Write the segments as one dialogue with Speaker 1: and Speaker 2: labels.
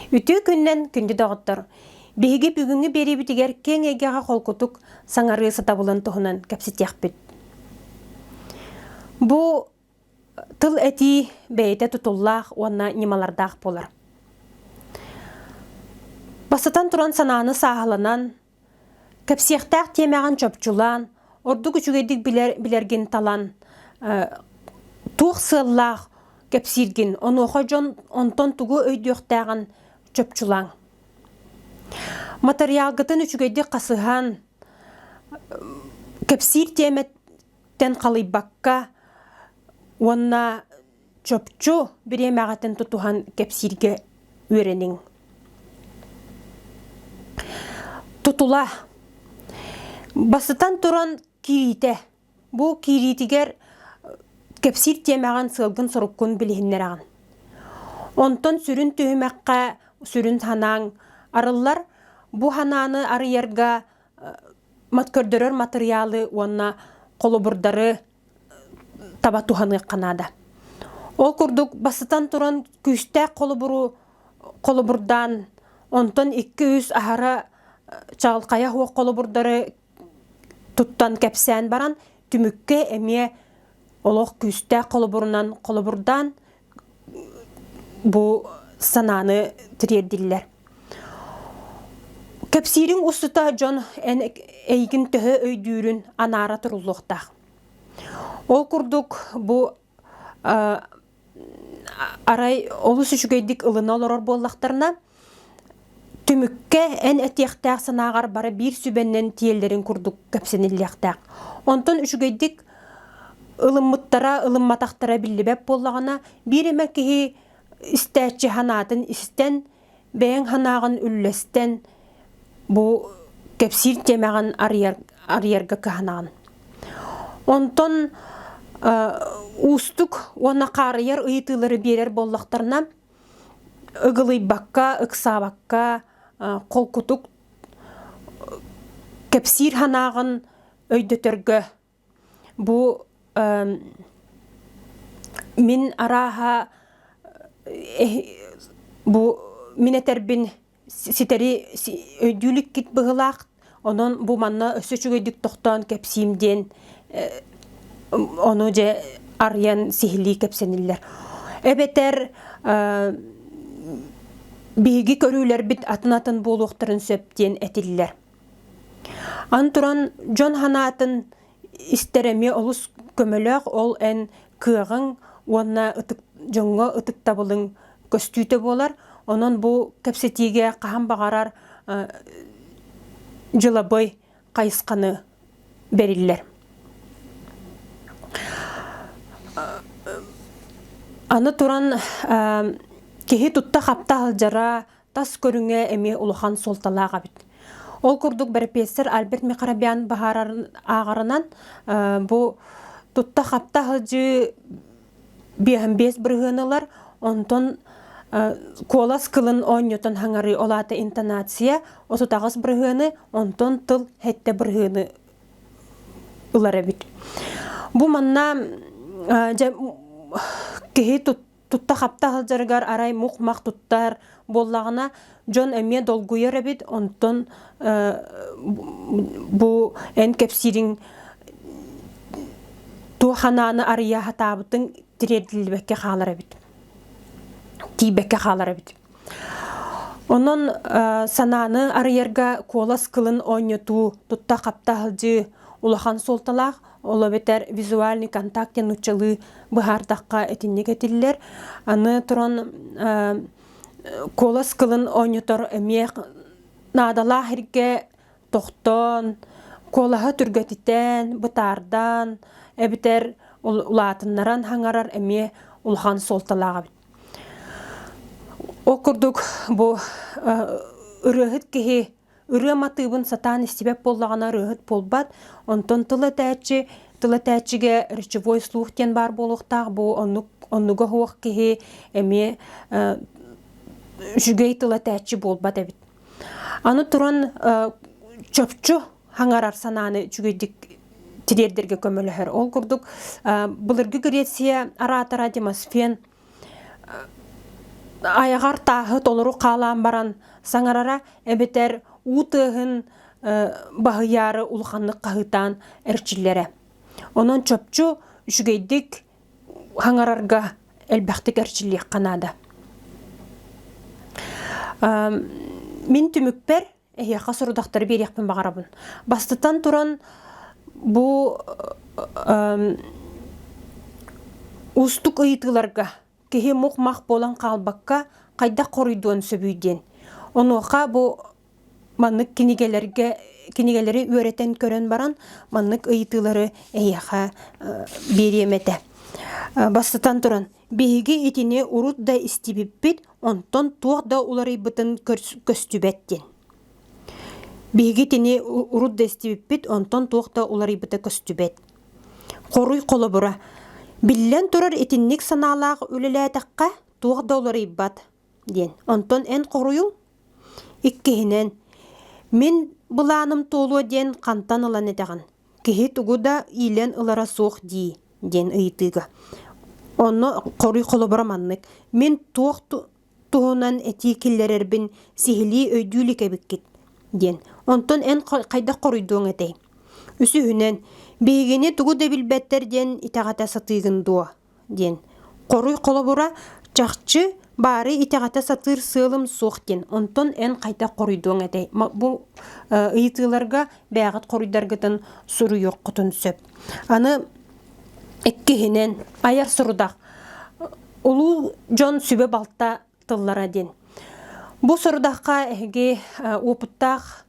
Speaker 1: Үтүө күннэн күндү доҕоттор! Биһиги бүгүҥҥү биэриибитигэр киэҥ эйгэҕэ холкутук саҥарыы сатабылын туһунан кэпсэтиэхпит. Бу тыл этии бэйэтэ тутуллаах уонна ньымалардаах буолар. Бастатан туран санааны сааһыланан, кэпсиэхтээх тиэмэҕин чопчулаан, ордук үчүгэйдик билэр билэргин талан, туох сыаллаах кэпсииргин, онуоха дьон онтон тугу өйдүөхтээҕин чопчулааҥ. Матырыйаалгытын үчүгэйдик хасыһан, кэпсиир тиэмэ тэн халыйбакка уонна чопчу бириэмэҕитин тутуһан кэпсииргэ үөрэниҥ. Тутула. Бастатан туран кириитэ. Бу киириитигэр кэпсиир тиэмэҕин сыалгын-соруккун билиһиннэрэҕин. Онтон сүрүн түһүмэххэ сүрүн санааҥ арыллар. Бу санааны арыйарга көрдөрөр матырыйаалы уонна холобурдары таба туһаныахха наада. Ол курдук бастатан туран күүстээх холобуру холобурдаан онтон 200 аһара чаҕылхайа хуох холобурдары туттан кэпсээн баран түмүккэ эмиэ олох күүстээх холобурунан холобурдаан бу санааны тириэрдиллэр. Кэпсиирин устута дьон эн эйигин төһө өйдүүрүн анаара туруллуохтаах. Ол курдук бу арай олус үчүгэйдик ылына олорор буоллахтарына Түмүккэ эн этиэхтээх санааҕар бары биир сүбэннэн тиэллэрин курдук кэпсэниллиэхтээх. Онтон үчүгэйдик ылыммыттара, ылымматахтара биллибэт буоллаҕына, биир эмэ киһи истээччи санаатын истэн, бэйэҥ санааҕын үллэстэн, бу кэпсиир тиэмэҕин арыйар, арыйарга кыһанаҕын. Онтон уустук уонна хаарыйар ыйытыылары биэрэр буоллахтарына, ыгылыйбакка, ыксаабакка холкутук кэпсиир санааҕын өйдөтөргө. Бу мин арааһа бу мин этэрбин ситэри өйдүү иликкит быһылаах онон бу манна өссө үчүгэйдик тохтоон кэпсиим диэн ону дьэ арыйан сиһилии кэпсэниллэр эбэтэр биһиги көрүүлэрбит атын атын буолуохтарын сөп диэн этиллэр аны туран дьон санаатын истэр эмиэ олус көмөлөөх ол эн кыаҕыҥ уонна ытык дьоҥҥо ытыктабылыҥ көстүүтэ буолар онон бу кэпсэтиигэ хаһан баҕарар дьылабый хайысханы бэриллэр аны туран киһи тутта хапта сылдьара Тас көрүҥэ эмиэ улахан суолталаах эбит. Ол курдук бэрэпиэссэр Альберт Михарабян баһаарарын ааҕарынан бу тутта-хапта сылдьыы биэһэн биэс бырыһыан ылар, онтон куолас кылын оонньотон хаҥарыы, ол аата интонация, отут аҕыс бырыһыаны, онтон тыл сэттэ бырыһыаны ылар эбит. Бу манна киһи Тутта-хапта сылдьарыгар арай мух-мах туттар буоллаҕына дьон эмиэ долгуйар эбит онтон бу эн кэпсиириҥ туох санааны арыйа сатаабытыҥ тириэрдиллибэккэ хаалар эбит тиийбэккэ хаалар эбит Онон санааны арыйарга куолас кылын оонньотуу, тутта-хапта сылдьыы улахан суолталаах. Ол эбэтэр визуальный контакте нууччалыы быһаардахха итинник этиллэр. Аны туран куолас кылын оонньотор эмиэ наадалаах эргэ тохтоон, куолаһы түргэтитэн, бытаардан эбэтэр улаатыннаран хаҥарар эмиэ улахан суолталаах эбит. Ол курдук бу ырыаһыт киһи ырыам атыыбын сатаан истибэт буоллаҕына ырыаһыт буолбат, онтон тыл этээччи тыл этээччигэ речевой слух диэн баар буолуохтаах бу оннук оннуга суох киһи эмиэ үчүгэй тыл этээччи буолбат эбит. Аны туран чопчу хаҥарар санааны үчүгэйдик тириэрдэргэ көмөлөһөр. Ол курдук былыргы Греция араатара Демосфен айаҕар тааһы толору хаалаан баран саҥарара эбэтэр уу тыаһын баһыйаары улаханнык хаһыытаан эрчиллэрэ. Онон чопчу үчүгэйдик хаҥарарга элбэхтик эрчиллиэххэ наада. Мин түмүкпэр эһиэхэ сорудахтары биэриэхпин баҕарабын бастатан туран бу уустук ыйытыыларга киһи мух-мах буолан хаалбакка хайдах хоруйдуон сөбүй диэн онуоха бу маннык кинигэлэргэ кинигэлэри үөрэтэн көрөн баран маннык ыйытыылары эһиэхэ биэриэм этэ бастатан туран Биһиги итини урут да истибиппит, онтон туох да уларыйбытын көстүбэт диэн. Биһиги итини урут да истибиппит, онтон туох да уларыйбыта көстүбэт. Хоруй холобура. Биллэн турар, итинник санаалаах үлэлээтэххэ, туох да уларыйбат. диэн. Онтон эн хоруйуҥ иккиһинэн мин былааным туолуо диэн хантан ылан этэҕин? Киһи тугу да иилэн ылара суох дии диэн ыйытыыга. Онно хоруй холобура маннык. Мин туох туһунан этии киллэрэрбин сиһилии өйдүү илик эбиккит диэн. Онтон эн хайдах хоруйдуоҥ этэй? Үсүһүнэн, биһигини тугу да билбэттэр диэн итэҕэтэ сатыыгын дуо? диэн хоруй холобура чахчы баары итэҕэтэ сатыыр сыалым суох диэн онтон эн хайдах хоруйдуоҥ этэй бу ыйытыыларга бээҕит хоруйдаргытын суруйуоххутун сөп аны иккиһинэн айар сорудах улуу дьон сүбэ балта тыллара дин. Бу сорудахха эһиги опыттаах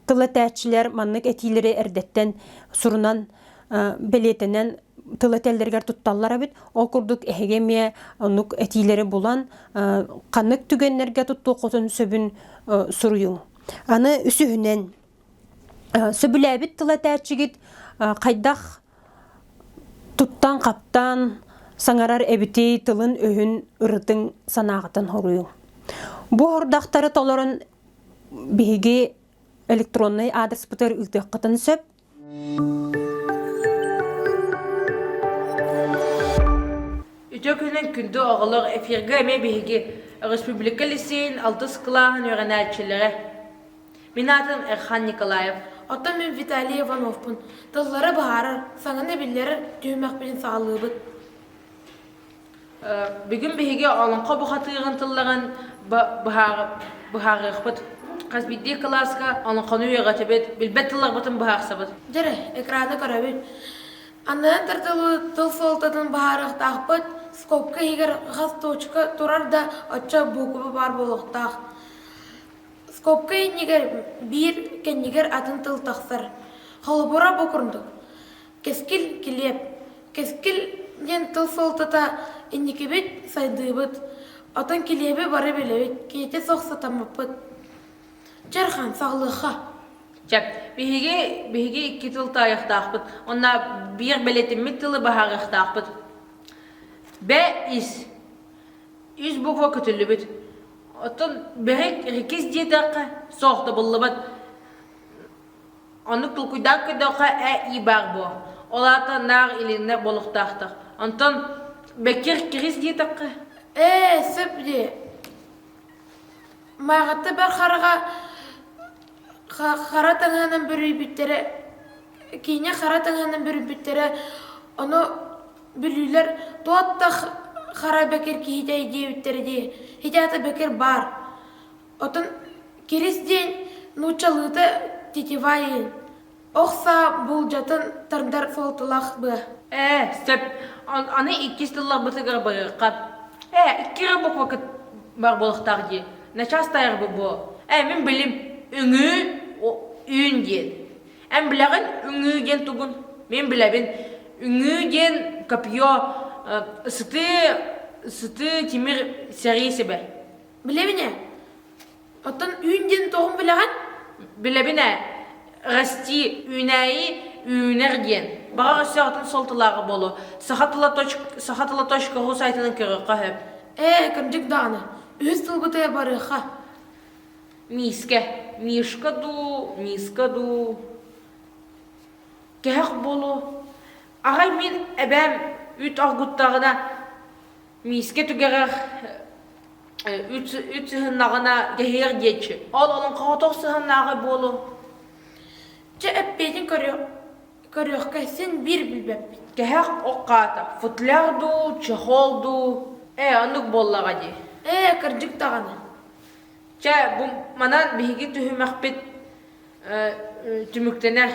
Speaker 1: тыл этээччилэр маннык этиилэри эрдэттэн сурунан бэлиэтэнэн тыл этэллэригэр тутталлар эбит. Ол курдук эһиги эмиэ оннук этиилэри булан ханнык түгэннэргэ туттуоххутун сөбүн суруйуҥ. Аны үсүһүнэн Сөбүлээбит тыл этээччигит хайдах туттан-хаптан саҥарар эбитий тылын-өһүн ырытыҥ санааҕытын хоруйуҥ. Бу хордахтары толорон биһиги электроннай аадыспытыгар ыытыаххытын сөп. Үтүө күнүн күндү оҕолор эфиргэ эмиэ биһиги республика лиссиин алтыс кылааһын үөрэнээччилэрэ Мин аатым Эрхан Николаев, оттон мин Виталий Ивановпун. Тыллары быһаарар, саҥаны биллэрэр түһүмэхпин саҕалыыбыт. Бүгүн биһиги олоҥхо бухатыырын тылларын быһаарыахпыт. Хас биирдии кылааска олоҥхону үөҕэтибит, билбэт тылларбытын быһаарсабыт. Дьэрэ, экраны көрөбүт. Анныан тардылы тыл суолтатын быһаарыахтаахпыт, скобка иһигэр хас точка турар да, оччо буква баар буолуохтаах. Скобка иннигэр биир кэннигэр атын тыл тахсар. Холобура бу курдук. Кэскил килиэп. Кэскил диэн тыл суолтата инникибит сайдыыбыт. Оттон килиэби бары билэбит, киһитэ суох сатаммыппыт. Чархан, саҕылыахха. Чап, биһиги, биһиги икки тыл таайахтаахпыт. Онно биир бэлэтиммит тылы баһаарыахтаахпыт. Б ис. Үс буква көтүллүбүт. Оттон бэһик рекис диэтэххэ суох да буллубат. Оннук толкуйдаан көрдөххө э и баар буо. Ол аата наах илиннэ болуктаахтах. Онтон беккер кирис диэтэххэ ээ сөп ди. Маарата бар хараҕа хара таҥаанан бүрүйбүттэрэ киинэ хара таҥаанан бүрүйбүттэрэ ону Бүлүүлэр туот да Хара Бэкир киһитэ диэбиттэрэ дии, хитэ Бэкир баар. Отон Кирис диэн нууччалыыта тетивайын, охсаа буулдьатын тардар флоталаах быа. Ээ, сөп. Аны иккис тылларбытыгар байыахха. Ээ, икки эрэ буквакыт бар буолахтаах дии. Начаас тайарбы буо. Ээ, мин билим. Үҥүү, үүн диэн. Эн билэҕин үҥүү диэн тугун? Мин билэбин. Үҥүү диэн копье, ысытыы, ысытыы тимир сэрии сибэ. Билэбин ээ. Оттон үүн диэн тоҕун билэҕин? Билэбин ээ. Расти, үүнээйи, үүнэр диэн. Баҕар өссөҕүтүн суолталааҕа буолуо. Саха тыла точка, саха тыла точка ру сайтынан көрүөххэ сөп. Ээ, кырдьык даҕаны. Үһүс тылбытыгар барыахха. миискэ мишка дуу миска дуу кэһэх буолуо аҕай мин эбээм үт аргуттаҕына миискэ түгэҕэр үт үт сыһыннаҕына кэһиэр диэччи ол олон хоотох сыһыннааҕы буолуо чэ эппиэтин көрүө көрүөххэ син биир билбэппит кэһэх оккаата футляр дуу чехол дуу ээ оннук буоллаҕа дии ээ кырдьык даҕаны Чэ, бу манан биһиги түһүмэхпит түмүктэнэр.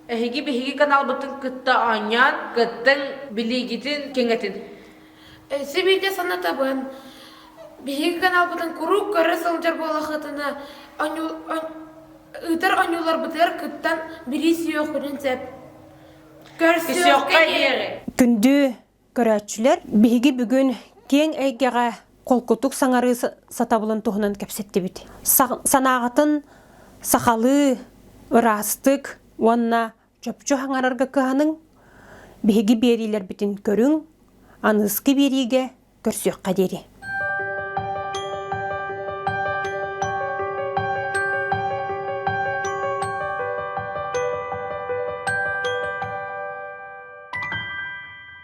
Speaker 1: Эһиги биһиги каналбытын кытта оонньоон, кыттыҥ, билиигитин кэҥэтин. Сибиитэ санатабын, биһиги каналбытын куруук көрө сылдьар буолахытына, ыытар оонньууларбытыгар кыттан, билии сүһүөххүтүн сөп. Көрсүөххэ диэри. Күндү Көрөөччүлэр биһиги бүгүн киэҥ эйгэҕэ холкутук саҥарыы сатабылын туһунан кэпсэттибит. Санааҕытын сахалыы, ыраастык уонна чопчу хаҥарарга кыһаныҥ, биһиги биэриилэрбитин көрүҥ, аныыскы биэриигэ көрсүөххэ диэри.